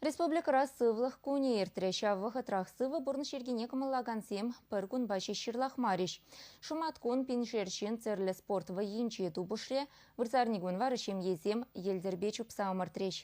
Республикӑра Сывлӑх кунӗ иртрӗ. Ҫав вӑхӑтрах сывӑ пурнӑҫ йӗркине кӑмӑллакансем пӗр кунпа ҫеҫ ҫырлахмарӗҫ. Шӑматкун пиншер ҫын тӗрлӗ спорт вӑййинче тупӑшрӗ, вырсарникун вара ҫемьесем йӗлтӗрпе чупса ӑмӑртрӗҫ.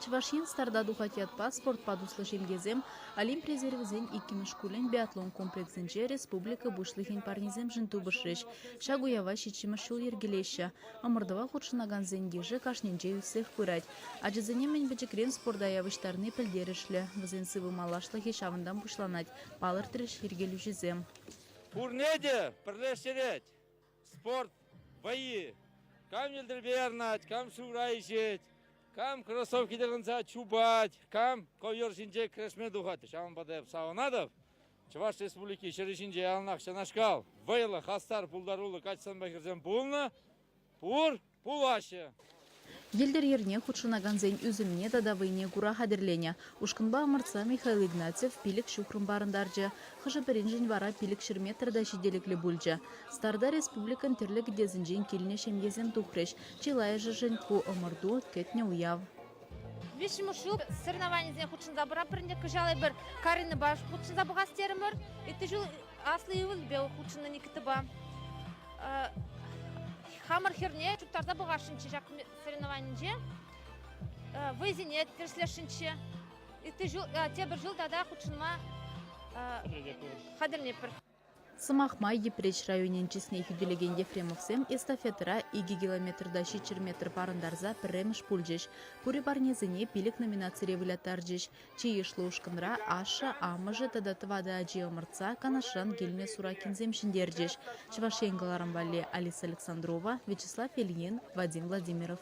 Чӑваш Ен старта тухать ятпа спортпа туслӑ ҫемьесем Олимп резервӗсен иккӗмӗш шкулӗн биатлон комплексӗнче республика Пуҫлӑхӗн парнисемшӗн тупӑшрӗҫ. Ҫак уява ҫиччӗмӗш ҫул йӗркелеҫҫӗ. Ӑмӑртӑва хутшӑнакансен йышӗ кашнинче ӳссех пырать. Ачасене мӗн пӗчӗкрен спорта явӑҫтарни пӗлтерӗшлӗ. Вӗсен сывӑ малашлӑхӗ ҫавӑнтан пуҫланать, палӑртрӗҫ йӗркелӳҫӗсем. Пурне те пӗрлештерет спорт вӑййи. Кам йӗлтӗрпе ярӑнать, кам шывра ишет, кам кроссовки тӑхӑнса чупать, кам ковер ҫинче кӗрешме тухать. Ҫавӑнпа та эп савӑнатӑп, Чӑваш Республики ҫӗрӗ ҫинче яланах ҫакнашкал вӑйлӑ, хастар, пултаруллӑ каҫсанпа хӗрсем пулнӑ, пур, пулаҫҫӗ. Йӗлтӗр йӗрне хутшӑнакансен ӳсӗмне тата вӑйне кура хатӗрленӗ ушкӑнпа ӑмӑртса Михаил Игнатьев пилӗк ҫухрӑм парӑнтарчӗ. Хӑшӗ-пӗриншӗн вара пилӗк ҫӗр метр та ҫителӗклӗ пулчӗ. Старта республикӑн тӗрлӗ кӗтесӗнчен килнӗ ҫемьесем тухрӗҫ. Чылайӑшӗшӗн ку ӑмӑрту, кӗтнӗ уяв. Виҫҫӗмӗш ҫул соревнованисене хутшӑнса пыратпӑр ӗнтӗ. Кӑҫал эпир Каринӑпа хутшӑнса пӑхас терӗмӗр. Иккӗ ҫул аслӑ ывӑлӗпе хутшӑннӑ Никитӑпа. Хамӑр хӗрне чуптарса пӑхасшӑнччӗ ҫак соревнованинче. Вӑйсене тӗрӗслесшӗнччӗ. Иккӗ ҫул, тепӗр ҫул тата хутшӑнма хатӗрленӗпӗр. Сӑмах май, Йӗпреҫ районӗн чысне хӳтӗлекен Ефремовсем эстафетӑра икӗ километрта ҫиччӗр метр парӑнтарса пӗрремӗш пулчӗҫ, пури парнесене пилӗк номинацире выляттарчӗҫ. Чи йышлӑ ушкӑнра ашшӗ, амӑшӗ тата тӑватӑ ачи ӑмӑртса Канашран килнӗ Суракинсем ҫӗнтерчӗҫ. Чӑваш Ен кӑларӑм валли Алиса Александрова, Вячеслав Ильин, Вадим Владимиров.